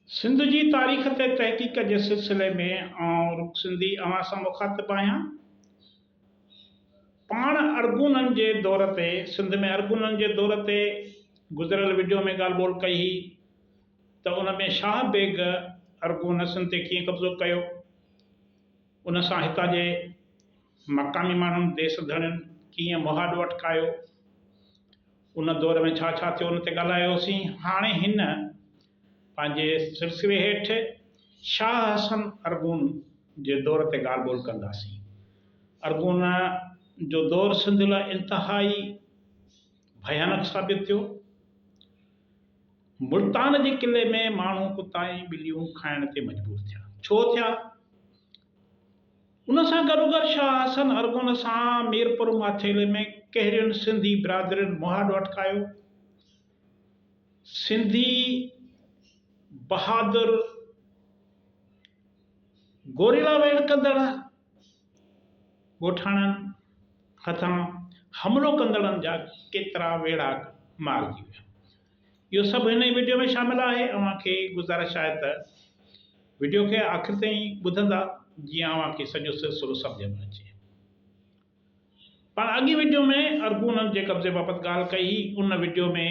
سنڌ جي تاريخ تي تحقيق جي سلسلي ۾ آئون رڳ سنڌي اوهان سان مخاطب آهيان. پاڻ ارغونن جي دور تي سنڌ ۾ ارغونن جي دور تي گذريل وڊيو ۾ ڳالهه ٻولهه ڪئي هئي ته ان ۾ شاهه بيگ ارغونسن تي ڪيئن قبضو ڪيو ان سان هتان جي مقامي ماڻهن ديس ڌڻين ڪيئن مهاڏ وٺڪايو، ان دور ۾ ڇا ڇا ٿيو ان تي ڳالهايوسين. هاڻي هن پنهنجي سلسلي هيٺ شاهه حسن ارغون جي دور تي ڳالهه ٻولهه ڪنداسين. ارغون جو دور سنڌ لاء انتهائي ڀيانڪ ثابت ٿيو. ملتان جي قلعي ۾ ماڻهو ڪتا ۽ ٻليون کائڻ تي مجبور ٿيا. ڇو ٿيا؟ ان سان گڏوگڏ شاهه حسن ارغون سان ميرپور ماٿيلي ۾ ڪهڙين سنڌي برادرين مهاڏ اٽڪايو؟ سنڌي بهادر گوريلا ويڙهه ڪندڙ ڳوٺاڻن هٿان حملو ڪندڙن جا ڪيترا ويڙهاڪ مارجي ويا. اهو سڀ هن ئي وڊيو ۾ شامل آهي اوهان کي گذارش آهي ته وڊيو کي آخر تائين ٻڌندا جيئن اوهان کي سڄو سلسلو سمجهه ۾ اچي. پاڻ اڳين وڊيو ۾ ارغونن جي قبضي بابت ڳالهه ڪئي هئي ان وڊيو ۾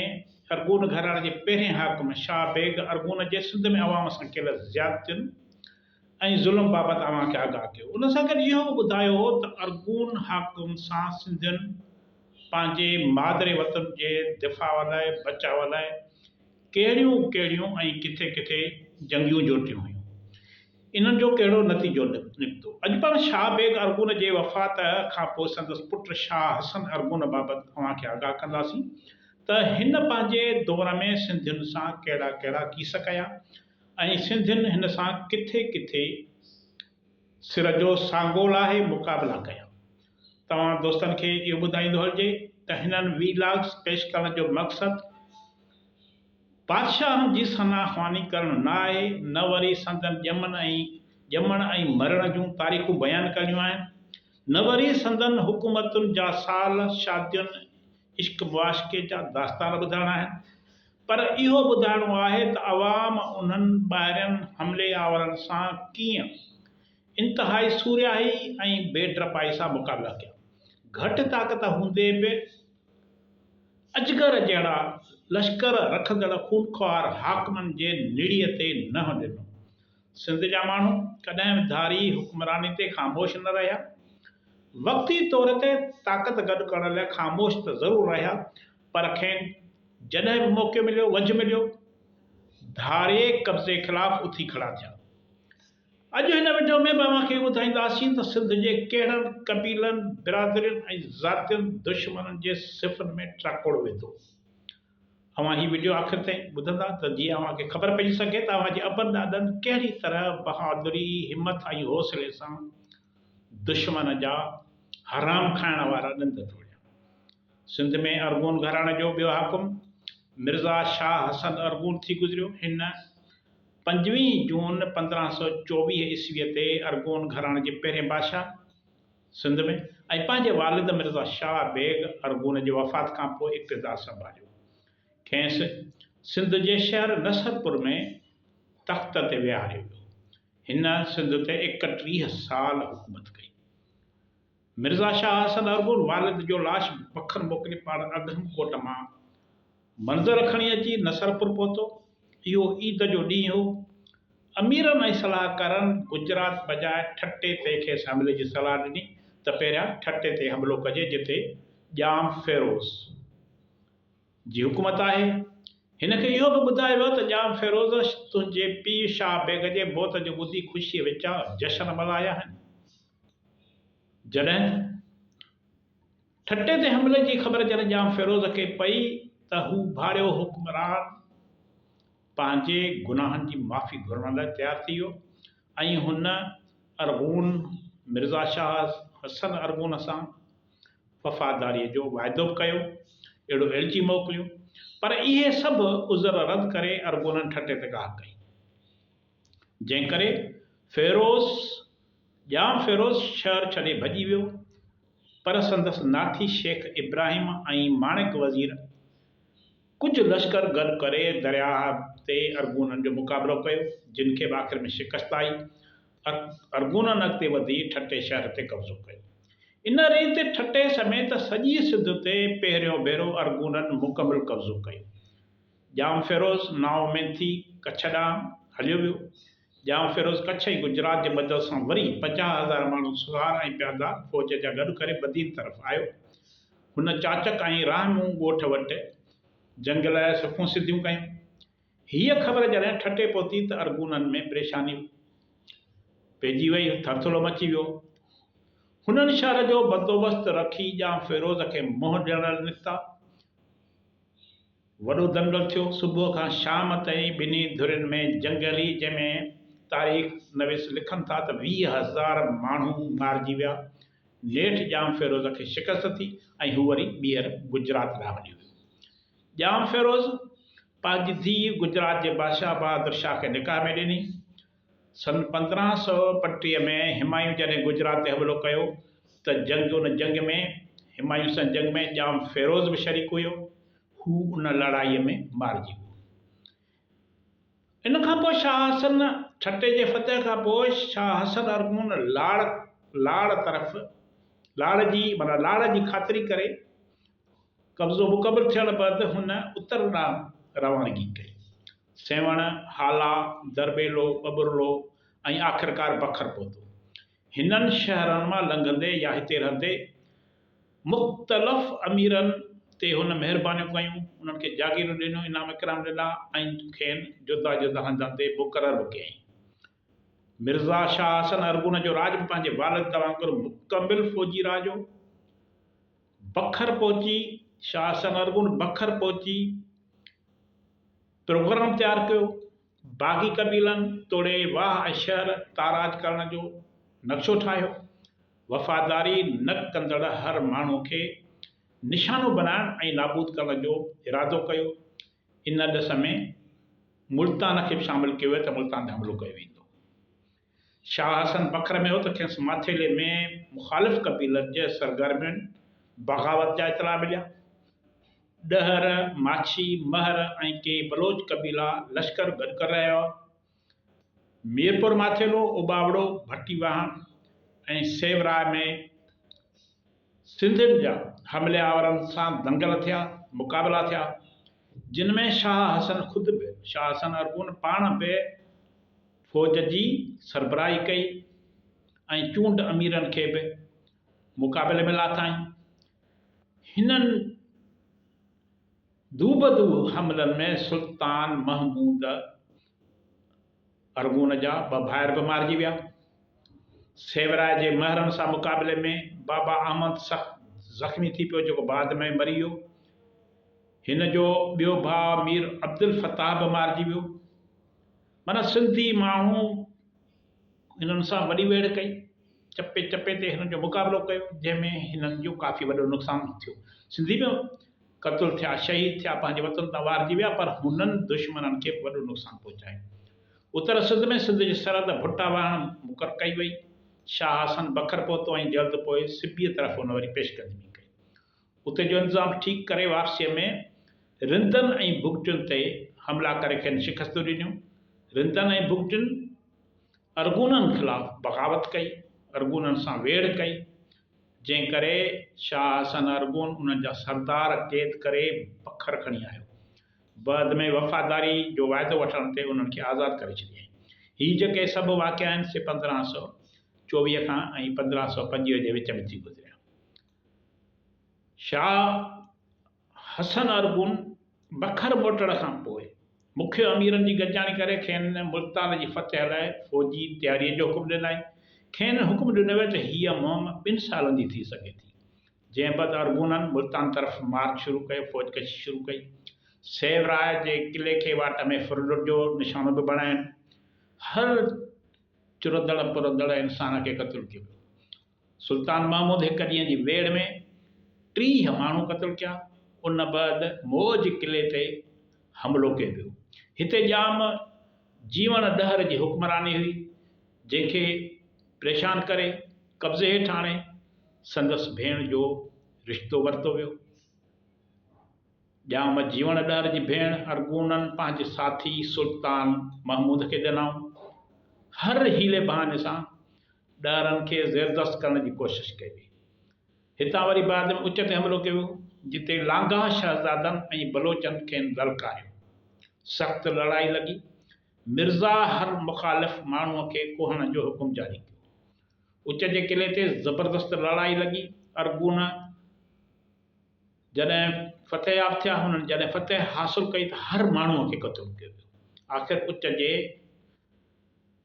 ارغون گهراڻي جي پهرين حاڪم شاهه بيگ ارغون جي سنڌ ۾ عوام سان ڪيل زيادتين ۽ ظلم بابت اوهان کي آگاهه ڪيو. ان سان گڏ اهو به ٻڌايو هو ته ارغون حاڪم سان سنڌين پنهنجي مادري وطن جي دفاع لاء، بچاء لاء، ڪهڙيون ڪهڙيون ۽ ڪٿي ڪٿي جنگيون جوٽيون هيون. انهن جو ڪهڙو نتيجو نڪتو. اڄ پڻ شاهه بيگ ارغون جي وفات کان پوء سندس پٽ شاهه حسن ارغون بابت اوهان کي آگاهه ڪنداسين ته هن پنهنجي دور ۾ سنڌين سان ڪهڙا ڪهڙا ڪيس ڪيا ۽ ۽ سنڌين هن سان ڪٿي ڪٿي سر جو سانگو لاهي مقابلا ڪيا. توهان دوستن کي اهو ٻڌائيندو هلجي ته هنن وي لاگز پيش ڪرڻ جو مقصد بادشاهن جي ثنا خواني ڪرڻ نه آهي نه وري سندن ڄمن ۽ ڄمڻ ۽ مرڻ جون تاريخون بيان ڪرڻيون آهن نه وري سندن حڪومتن جا سال شادين عشق معاشقي جا داستان ٻڌائڻا آهن. پر اهو ٻڌائڻو آهي ته عوام انهن ٻاهرين حملي آورن سان ڪيئن انتهائي سورهيائي ۽ بي ڊپائي سان مقابلا ڪيا. گهٽ طاقت هوندي به اجگر جهڙا لشڪر رکندڙ خونخوار حاڪمن جي نڙيء تي نهن ڏنو. سنڌ جا ماڻهو ڪڏهن به ڌاري حڪمراني تي خاموش نه رهيا. وقتي طور تي طاقت گڏ ڪرڻ لاء خاموش ته ضرور رهيا پر کين جڏهن به موقعو مليو، وجهه مليو، ڌاري قبضي خلاف اٿي کڙا ٿيا. اڄ هن وڊيو ۾ به اوهان کي ٻڌائينداسين ته سنڌ جي ڪهڙن قبيلن، برادرين ۽ ذاتين دشمنن جي صفن ۾ ٽراڪوڙ وڌو. اوهان هي وڊيو آخر تائين ٻڌندا ته جيئن اوهان کي خبر پئجي سگهي ته اوهان جي ابن ڏاڏن ڪهڙي طرح بهادري، همت ۽ حوصلي سان دشمن جا حرام کائڻ وارا ڏند ٽوڙيا. سنڌ ۾ ارغون گهراڻي جو ٻيو حاڪم مرزا شاهه حسن ارغون ٿي گذريو. هن پنجويهه جون پندرهن سؤ چوويهه عيسويء تي ارغون گهراڻي جي پهرين بادشاهه سنڌ ۾ ۽ پنهنجي والد مرزا شاهه بيگ ارغون جي وفات کان پوء اقتدار سنڀاليو. کينئس سنڌ جي شهر نصرپور ۾ تخت تي ويهاريو ويو. هن سنڌ تي ايڪٽيهه سال حڪومت ڪئي. مرزا شاهه حسن ارغون والد جو لاش بکر موڪلي پاڻ اگهم ڪوٽ مان منظر کڻي اچي نصرپور پهتو. اهو عيد جو ڏينهن هو. اميرن ۽ صلاحڪارن گجرات بجاء ٺٽي تي کيس حملي جي صلاح ڏني ته پهريان ٺٽي تي حملو ڪجي جتي ڄام فيروز جي حڪومت آهي. هن کي اهو به ٻڌايو ويو ته ڄام فيروز تنهنجي پيء شاهه بيگ جي موت جو ٻڌي خوشيء وچان جشن ملهايا آهن جڏهن ته ٺٽي تي حملي جي خبر جڏهن ڄام فيروز کي پئي ته هو ڀاڙيو حڪمران پنهنجي گناهن جي معافي گهرڻ لاء تيار ٿي ويو ۽ هن ارغون مرزا شاهه حسن ارغون سان وفاداريء جو واعدو به ڪيو، اهڙو ايلچي موڪليون، پر اهي سڀ عذر رد ڪري ارغونن ٺٽي تي ڪاهه ڪئي. جنهن ڪري فيروز ڄام فيروز شهر ڇڏي ڀڄي ويو، پر سندس ناٺي شيخ ابراهيم ۽ ماڻڪ وزير ڪجهه لشڪر گڏ ڪري درياهه تي ارغونن جو مقابلو ڪيو، جن کي به آخر ۾ شڪست آئي. ارغونن اڳتي وڌي ٺٽي شهر تي قبضو ڪيو. ان ريت ٺٽي سميت سڄي سنڌ تي پهريون ڀيرو ارغونن مڪمل قبضو ڪيو. ڄام فيروز نااميد ٿي ڪڇ ڏانهن هليو ويو. ڄام فيروز ڪڇ ۽ گجرات جي مدد سان وري پنجاهه هزار ماڻهو سوار ۽ پيادا فوج جا گڏ ڪري بدين طرف آيو. هن چاچڪ ۽ راهه مون ڳوٺ وٽ جنگ لاء صفون سڌيون ڪيون. هيء خبر جڏهن ٺٽي پهتي ته ارغونن ۾ پريشاني پئجي وئي، ٿرٿرو مچي ويو. هنن شهر جو بندوبست رکي ڄام فيروز کي منهن ڏيڻ لنگتا. وڏو دنگل ٿيو. صبح کان شام تائين ٻنهي ڌرين ۾ جنگ هلي، جنهن ۾ تاريخ نويس لکن ٿا ته ويهه هزار ماڻهو مارجي ويا. نيٺ ڄام فيروز کي شڪست ٿي ۽ هو وري ٻيهر گجرات ڏانهن هليو ويو. ڄام فيروز پنهنجي ڌيء گجرات جي بادشاهه بهادر شاهه کي نڪاح ۾ ڏني. سن پندرهن سؤ پنٽيهه ۾ همايون جڏهن گجرات تي حملو ڪيو ته جنگ ان جنگ ۾ همايون سان جنگ ۾ ڄام فيروز به شريڪ هيو. هو ان لڙائي ۾ مارجي ويو. ان کان پوء شاهه حسن ٺٽي جي فتح کان پوء شاهه حسن ارغون لاڙ لاڙ طرف لاڙ جي معنيٰ لاڙ جي خاطري ڪري قبضو مڪمل ٿيڻ بعد هن اتر ڏانهن روانگي ڪئي. سيوهڻ، هالا، درٻيلو، ٻٻرڙو ۽ آخرڪار بکر پهتو. هنن شهرن مان لنگهندي يا هتي رهندي مختلف اميرن تي هن مهربانيون ڪيون، انهن کي جاگيرون ڏنيون، انعام اڪرام ڏنا ۽ کين جدا جدا هنڌن تي مقرر به ڪيائين. مرزا شاهه حسن ارغون جو راڄ به پنهنجي والد وانگر مڪمل فوجي راڄ هو. بکر پهچي شاهه حسن ارغون بکر پهچي پروگرام تيار ڪيو. باغي قبيلن توڙي واهه ۽ شهر تاراج ڪرڻ جو نقشو ٺاهيو. وفاداري نه ڪندڙ هر ماڻهو کي نشانو بنائڻ ۽ نابود ڪرڻ جو ارادو ڪيو. ان ڏس ۾ ملتان کي به شامل ڪيو ويو ته ملتان تي حملو ڪيو ويندو. شاهه حسن فخر ۾ هو ته کيس ماٿيلي ۾ مخالف قبيلن جي سرگرمين بغاوت جا اطلاع مليا. ڏهر، ماڇي، مهر ۽ ڪيئي بلوچ قبيلا لشڪر گڏ ڪري رهيا هئا. ميرپور ماٿيلو، اوٻاوڙو، ڀٽي واهڻ ۽ سيوراء ۾ سنڌين جا حملي آورن سان دنگل ٿيا، مقابلا ٿيا، جن ۾ شاهه حسن خود به، شاهه حسن ارغون پاڻ به فوج جي سربراهي ڪئي ۽ چونڊ اميرن کي به مقابلي ۾ لاٿائين. هنن. دوبدو حملن ۾ سلطان محمود ارغون جا ٻه ڀائر به مارجي ويا. سيوراء جي مهرن سان مقابلي ۾ بابا احمد سخت زخمي ٿي پيو جيڪو بعد ۾ مري ويو. هن جو ٻيو ڀاء مير عبدالفتاح به مارجي ويو. معنيٰ سنڌي ماڻهو هنن سان وڏي ويڙهه ڪئي. چپي چپي تي هنن جو مقابلو ڪيو، جنهن ۾ هنن جو ڪافي وڏو نقصان به ٿيو. سنڌي به قتل ٿيا، شهيد ٿيا، پنهنجي وطن تان وارجي ويا، پر هنن دشمنن کي به وڏو نقصان پهچايو. اتر سنڌ ۾ سنڌ جي سرحد ڀٽا وهڻ مقرر ڪئي وئي. شاهه حسن بکر پهتو ۽ جلد پوء سبيء طرف هن وري پيشقدمي ڪئي. اتي جو انتظام ٺيڪ ڪري وارسيء ۾ رندن ۽ بگٽين تي حملا ڪري کين شڪستون ڏنيون. رندن ۽ بگٽين ارغونن خلاف بغاوت ڪئي، ارغونن سان ويڙهه ڪئي، جنهن ڪري شاهه حسن ارغون انهن جا سردار قيد ڪري بکر کڻي آيو. بعد ۾ وفاداري جو واعدو وٺڻ تي انهن کي آزاد ڪري ڇڏيائين. هي جيڪي سڀ واقعا آهن سي پندرهن سؤ چوويهه کان ۽ پندرهن سؤ پنجويهه جي وچ ۾ ٿي گذريا. شاهه حسن ارغون بکر موٽڻ کان پوء مکيه اميرن جي گڏجاڻي ڪري کين ملتان جي فتح لاء فوجي تياريء جو حڪم ڏنائين. کين حڪم ڏنو ويو ته هيء مهم ٻن سالن جي ٿي سگهي ٿي. جنهن بعد ارغونن ملتان طرف مارچ شروع ڪيو، فوج ڪشي شروع ڪئي. سيو راء جي قلعي کي واٽ ۾ ڦرلٽ جو نشانو به بڻايائين. هر چرندڙ پرندڙ انسان کي قتل ڪيو ويو. سلطان محمود هڪ ڏينهن جي ويڙهه ۾ ٽيهه ماڻهو قتل ڪيا. ان بعد موج قلعي تي حملو ڪيو ويو. هتي ڄام جيوڻ ڏهر جي حڪمراني هئي، جنهن کي پريشان ڪري قبضي هيٺ آڻي سندس ڀيڻ جو رشتو ورتو ويو. ڄام جيوڻ ڏهر جي ڀيڻ ارغونن پنهنجي ساٿي سلطان محمود کي ڏنائون. هر حيلي بهاني سان ڏاهرن کي زيردست ڪرڻ جي ڪوشش ڪئي وئي. هتان وري بعد ۾ اچ تي حملو ڪيو ويو، جتي لانگاهه شهزادن ۽ بلوچن کين للڪاريو. سخت لڙائي لڳي. مرزا هر مخالف ماڻهوء کي ڪوهڻ جو حڪم جاري ڪيو. اچ جي قلعي تي زبردست لڙائي لڳي. ارغون جڏهن فتحياب ٿيا، هنن جڏهن فتح حاصل ڪئي ته هر ماڻهوء کي قتل ڪيو ويو. آخر اچ جي.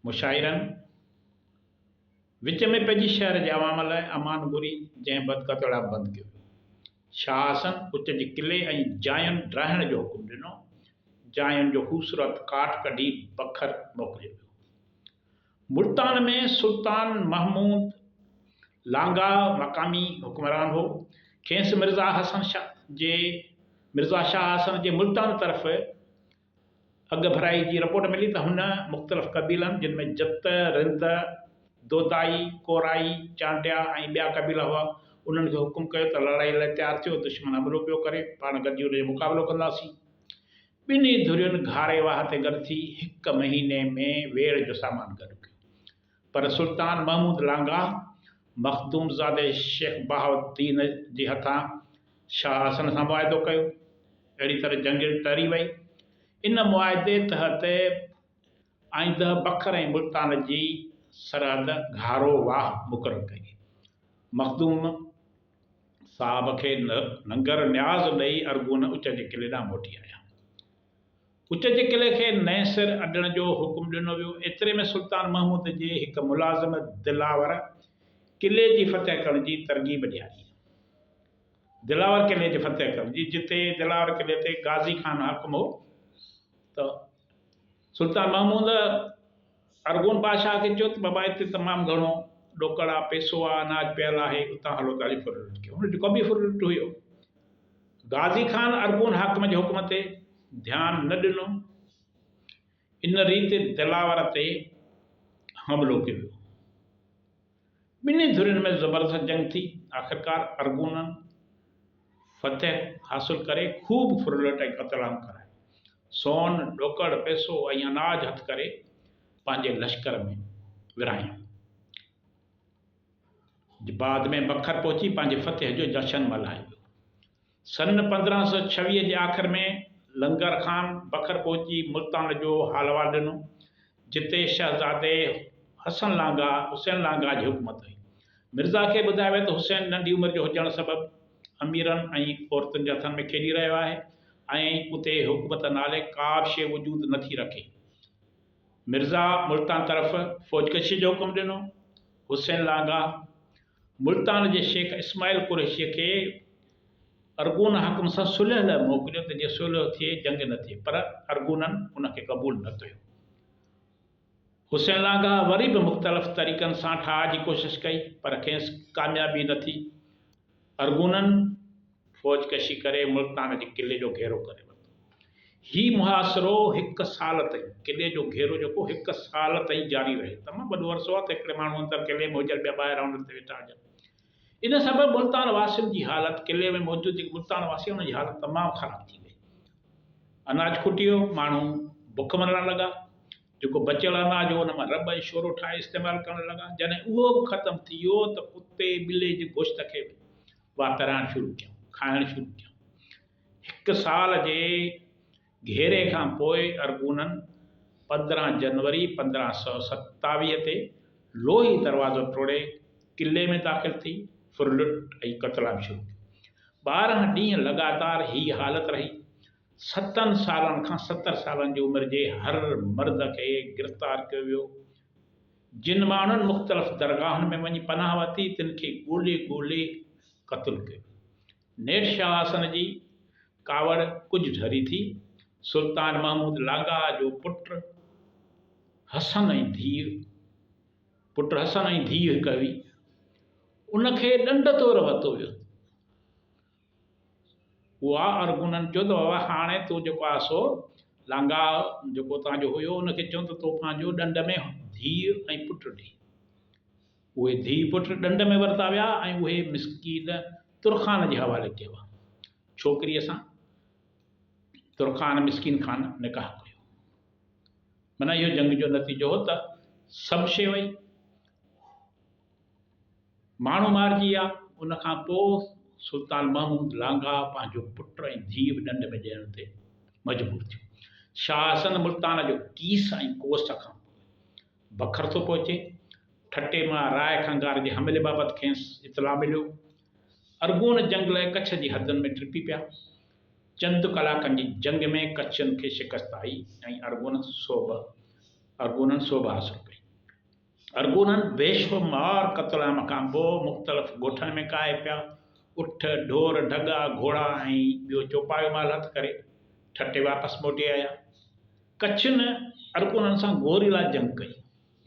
مشاعرن وچ ۾ پئجي شهر جي عوام لاء امان گهري جنهن بعد ڪتوڙا بند ڪيو ويو. شاهه حسن ات جي قلعي ۽ جاين ڊاهڻ جو حڪم ڏنو. جاين جو خوبصورت ڪاٺ ڪڍي بکر موڪليو ويو. ملتان ۾ سلطان محمود لانگاهه مقامي حڪمران هو. کيس مرزا حسن شاهه جي مرزا شاهه حسن جي ملتان طرف اڳ ڀرائي جي رپورٽ ملي ته هن مختلف قبيلن جن ۾ جت، رند، دودائي، ڪورائي، چانڊيا ۽ ٻيا قبيلا هئا، انهن کي حڪم ڪيو ته لڙائي لاء تيار ٿيو، دشمن حملو پيو ڪري، پاڻ گڏجي ان جو مقابلو ڪنداسين. ٻنهي ڌرين گهاري واهه تي گڏ ٿي هڪ مهيني ۾ ويڙهه جو سامان گڏ ڪيو. پر سلطان محمود لانگاهه مخدومزادي شيخ بهاء الدين جي هٿان شاهه حسن سان معاهدو ڪيو. اهڙي طرح جنگ ٽري وئي. ان معاهدي تحت آئنده بکر ۽ ملتان جي سرحد گهارو واهه مقرر ڪئي. مخدوم صاحب کي ننگر نياز ڏئي ارغون اچ جي قلعي ڏانهن موٽي آيا. اچ جي قلعي کي نئين سر اڏڻ جو حڪم ڏنو ويو. ايتري ۾ سلطان محمود جي هڪ ملازم دلاور قلعي جي فتح ڪرڻ جي ترغيب ڏياري. دلاور قلعي جي فتح ڪرڻ جي جتي دلاور قلعي تي غازي خان حاڪم هو ته سلطان محمود ارغون بادشاهه کي چيو ته بابا هتي تمام گهڻو ڏوڪڙ آ، پئسو آ، اناج پيل آهي، اتان هلو ته علي ڦرلٽ کي هن جو قبي ڦرلٽ هيو. غازي خان ارغون حاڪم جي حڪم تي ڌيان نه ڏنو. ان ريت دلاور تي حملو ڪيو ويو. ٻنهي ڌرين ۾ زبردست جنگ ٿي. آخرڪار ارغونن فتح حاصل ڪري خوب ڦرلٽ ۽ قتل عام ڪرايو. سون، ڏوڪڙ، پئسو ۽ اناج هٿ ڪري پنهنجي لشڪر ۾ ورهايائون. بعد ۾ بکر پهچي پنهنجي فتح جو جشن ملهائي ويو. سن پندرهن سؤ ڇويهه جي آخر ۾ لنگر خان بکر پهچي ملتان جو حال احوال ڏنو، جتي شهزادي حسن لانگاهه، حسين لانگاهه، جي حڪومت هئي. مرزا کي ٻڌايو ويو ته حسين ننڍي عمر جو هجڻ سبب اميرن ۽ عورتن جي هٿن ۾ کيڏي رهيو آهي ۽ اتي حڪومت نالي ڪا به شيء وجود نه ٿي رکي. مرزا ملتان طرف فوجڪشيء جو حڪم ڏنو. حسين لانگاهه ملتان جي شيخ اسماعيل قريشيء کي ارغون حاڪم سان صلح لاء موڪليو ته جيئن صلح ٿئي، جنگ نه ٿئي، پر ارغونن ان کي قبول نه ڪيو. حسين لانگاهه وري به مختلف طريقن سان ٺاهه جي ڪوشش ڪئي، پر کيس ڪاميابي نه ٿي. ارغونن. فوج ڪشي ڪري ملتان جي قلعي جو گهيرو ڪري ورتو. هي محاصرو هڪ سال تائين، قلعي جو گهيرو جيڪو هڪ سال تائين جاري رهيو. تمام وڏو عرصو آهي ته هڪڙي ماڻهو اندر قلعي ۾ هجن، ٻيا ٻاهر آنڊن تي ويٺا هجن. ان سبب ملتان واسين جي حالت، قلعي ۾ موجود جيڪي ملتان واسي هئا، انهن جي حالت تمام خراب ٿي وئي. اناج کٽي ويو، ماڻهو بک مرڻ لڳا. جيڪو بچيل اناج هو، ان مان رٻ ۽ شورو ٺاهي استعمال ڪرڻ لڳا. جڏهن اهو به ختم ٿي ويو ته ڪتي ٻلي جي گوشت کي به واترائڻ شروع ڪيائون، کائڻ شروع ڪيائون. هڪ سال جي گهيري کان پوء ارغونن پندرهن جنوري پندرهن سؤ ستاويهه تي لوهي دروازو ٽوڙي قلعي ۾ داخل ٿي ڦرلٽ ۽ قتل عام شروع ڪيو. ٻارهن ڏينهن لڳاتار هيء حالت رهي. ستن سالن کان ستر سالن جي عمر جي هر مرد کي گرفتار ڪيو ويو. جن ماڻهن مختلف درگاهن ۾ وڃي پناهه ورتي تن کي ڳولي ڳولي قتل ڪيو. نيٺ شاهه حسن جي ڪاوڙ ڪجهه ڍري ٿي. سلطان محمود لاڳاها جو پٽ حسن ۽ ڌيء پٽ حسن ۽ ڌيء هڪ هئي. ان کي ڏنڊ طور ورتو ويو. اها عرب انهن چيو ته بابا هاڻي تو جيڪو آهي سو لانگاهه جيڪو اتان جو هيو ان کي چون ته تو پنهنجو ڏنڊ ۾ ڌيء ۽ پٽ ڏي. اهي ڌيء پٽ ڏنڊ ۾ ورتا ويا ۽ اهي مسڪين ترخان جي حوالي ڪيا ويا. ڇوڪريء سان ترخان مسڪين خان نڪاح ڪيو. معنيٰ اهو جنگ جو نتيجو هو ته سڀ شيء وئي. ماڻهو مارجي ويا. ان کان پوء سلطان محمود لانگاهه پنهنجو پٽ ۽ ڌيء به ڏنڊ ۾ ڏيڻ تي مجبور ٿيو. شاهه حسن ملتان جو ڪيس ۽ ڪوس کان پوء بکر ٿو پهچي. ٺٽي مان راء کنگهار جي حملي بابت کيس اطلاع مليو. ارغون جنگ لئه ڪڇ جي حدن ۾ ٽڙپي پيا. چند ڪلاڪن جي جنگ ۾ ڪڇين کي شڪست آئي ۽ ارغونن سوڀ حاصل ڪئي. ارغونن بيشمار قتل عام کان پوء مختلف ڳوٺن ۾ ڪاهي پيا، اٺ، ڍور، ڍڳا، گهوڙا ۽ ٻيو چوپايو مال هٿ ڪري ٺٽي واپس موٽي آيا. ڪڇن ارغونن سان گوريلا جنگ ڪئي،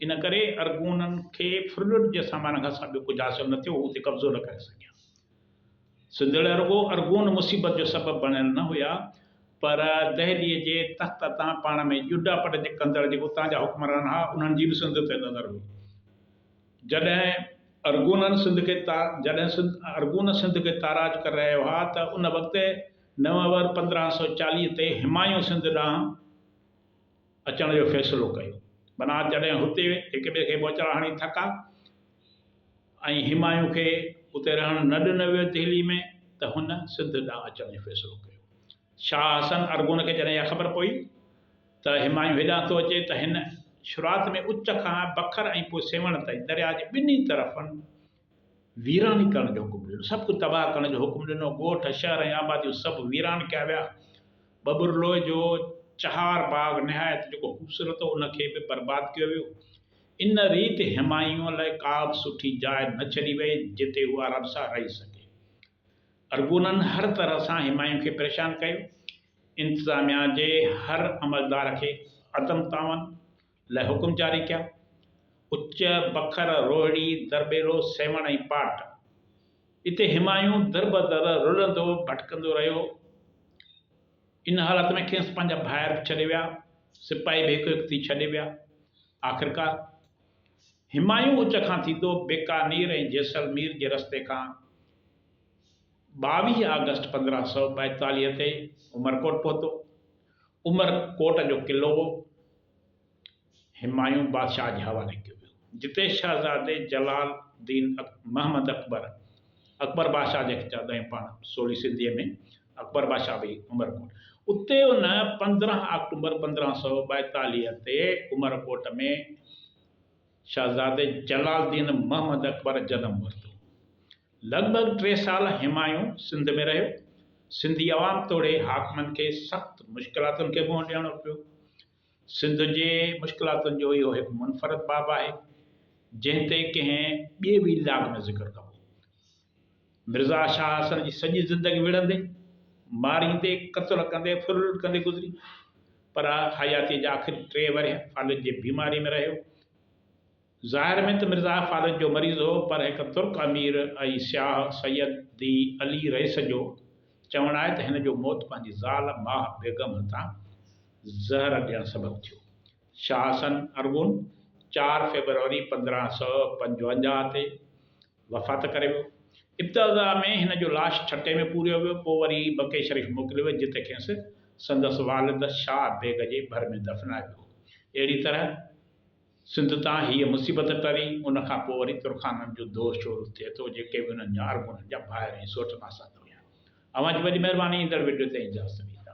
ان ڪري ارغونن کي ڦرڙٽ جي سامان کان سواء ٻيو ڪجهه حاصل نه ٿيو، هو اتي قبضو نه ڪري سگهيا. سنڌڙ رڳو ارغون مصيبت جو سبب بڻيل نه هيا پر دهليء جي تخت تان پاڻ ۾ ڄڊا پٽ ڪندڙ جيڪي اتان جا حڪمران ها انهن جي به سنڌ تي نظر هئي. جڏهن ارغونن سنڌ کي جڏهن ارغون سنڌ کي تاراج ڪري رهيا هئا ته ان وقت نومبر پندرهن سؤ چاليهه تي همايون سنڌ ڏانهن اچڻ جو فيصلو ڪيو. معنيٰ جڏهن هتي هڪ ٻئي کي ٻوچڙا هڻي ٿڪا. ۽ همايون کي اتي رهڻ نه ڏنو ويو دهلي ۾ ته هن سنڌ ڏانهن اچڻ جو فيصلو ڪيو. شاهه حسن ارغون کي جڏهن اها خبر پئي ته همايون هيڏانهن ٿو اچي ته هن شروعات ۾ اچ کان بکر ۽ پوء سيوهڻ تائين درياء جي ٻنهي طرفن ويراني ڪرڻ جو حڪم ڏنو. سڀ ڪجهه تباهه ڪرڻ جو حڪم ڏنو. ڳوٺ، شهر ۽ آباديون سڀ ويران ڪيا ويا. ٻٻرلوء جو چهار باغ نهايت جيڪو خوبصورت هو ان کي به برباد ڪيو ويو. ان ريت همايون لاء ڪابه سٺي جاء نه ڇڏي وئي جتي هو آرام سان رهي سگهي. ارغونن هر طرح سان همايون کي پريشان ڪيو. انتظاميا جي هر عملدار کي عدم تعاون لاء حڪم جاري ڪيا. اچ، بکر، روهڙي، درٻيلو، سيوهڻ ۽ پاٽ. اتي همايون دربدر رلندو ڀٽڪندو رهيو. ان حالت ۾ کيس پنهنجا ڀائر به ڇڏي ويا. سپاهي به هڪ هڪ ٿي ڇڏي ويا. آخرڪار، همايون اچ کان ٿيندو بيڪانير ۽ جيسلمير جي رستي کان ٻاويهه آگسٽ پندرهن سؤ ٻائيتاليهه تي عمرڪوٽ پهتو. عمر ڪوٽ جو قلعو همايون بادشاهه جي حوالي ڪيو ويو، جتي شهزادي جلال الدين محمد اڪبر، اڪبر بادشاهه جنهن کي چوندا آهيون پاڻ سولي سنڌيء ۾، اڪبر بادشاهه به عمرڪوٽ اتي ان پندرهن آڪٽومبر پندرهن سؤ ٻائيتاليهه تي عمرڪوٽ ۾ شهزادي جلال الدين محمد اڪبر جنم ورتو. لڳ ڀڳ ٽي سال همايون سنڌ ۾ رهيو. سنڌي عوام توڙي حاڪمن کي سخت مشڪلاتن کي منهن ڏيڻو پيو. سنڌ جي مشڪلاتن جو اهو هڪ منفرد باب آهي، جنهن تي ڪنهن ٻئي ويلاگ ۾ ذڪر ڪبو. مرزا شاهه حسن جي سڄي زندگي وڙهندي، ماريندي، قتل ڪندي، ڦرلٽ ڪندي گذري، پر حياتيء جا آخري ٽي ورهيه فالج جي بيماريء ۾ رهيو. ظاهر ۾ ته مرزا فاضل جو مريض هو پر هڪ ترڪ امير ۽ سياح سيد دي علي رئيس جو چوڻ آهي ته هن جو موت پنهنجي زال ماه بيگم هٿان زهر ڏيڻ سبب ٿيو. شاهه حسن ارغون چار فيبروري پندرهن سؤ پنجونجاهه تي وفات ڪري ويو. ابتدا ۾ هن جو لاش ٺٽي ۾ پوريو ويو پوء وري مڪي شريف موڪليو ويو جتي کيس سندس والد شاهه بيگ جي ڀر ۾ دفنايو ويو. اهڙي طرح سنڌ تان هيء مصيبت ٽري، ان کان پوء وري ترخانن جو دور شروع ٿئي ٿو، جيڪي به انهن جا ارغونن جا ڀائر ۽ سوٽ ماسات هيا. اوهان جي وڏي مهرباني ايندڙ وڊيو تي اجازت ڏيندا.